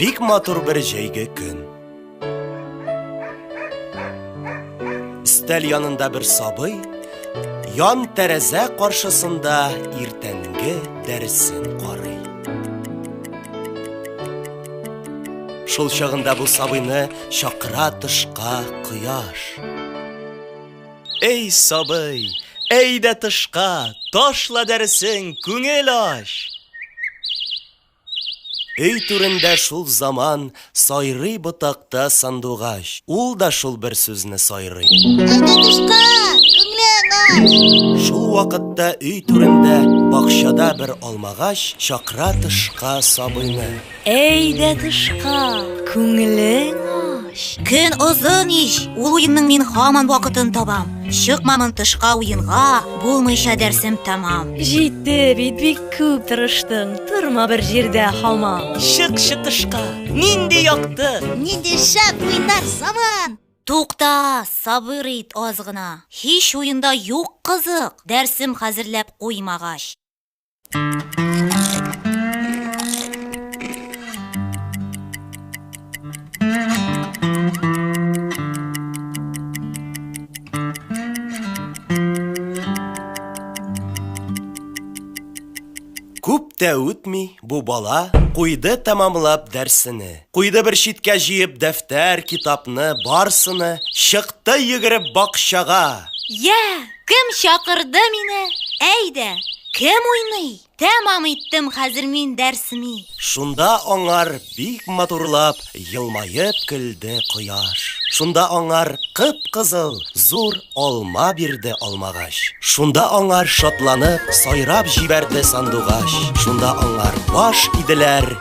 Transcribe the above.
Бик матур бер җәйге көн. Өстәл янында бер сабый ян тәрәзә каршысында иртәнге дәресен карый. Шул чагында бу сабыйны чакыра тышка кояш. Эй, сабый, әйдә тышка, ташла дәресен, күңел ач. Өй түрендә шул заман Сайрый ботакта сандугач. Ул да шул бер сүзне сайрый. Сандугачка, күңле агач. Шул вакытта өй түрендә Бакчада бер алмагач Чакыра тышка сабыйны. Әйдә тышка, күңелең ач. Көн озын ич, ул уенның мин хаман вакытын табам. Чыкмамын тышка уенга, булмыйча дәрсем тәмам. Җитте бит бик күп тырыштың, торма бер җирдә хамам. Чык чытышка, нинди якты! Нинди шәп уйнар заман! Тукта, сабыр ит аз гына. Һич уенда юк кызык, дәрсем хәзерләп куймагач. тә үтми бу бала куйды тәмамлап дәрсене. Куйды бер читкә җыеп дәфтәр, китапны, барсыны, чыкты йөгереп бакчага. Йә, Кем чакырды мине? Әйдә, кем уйный? Тәмам иттем хәзер мин дәрсми. Шунда аңар бик матурлап елмаеп көлде кояш. Шунда аңар кып-кызыл зур алма бирде алмагач. Шунда аңар шатланып сайрап җибәрде сандугач. Шунда аңар баш иделәр.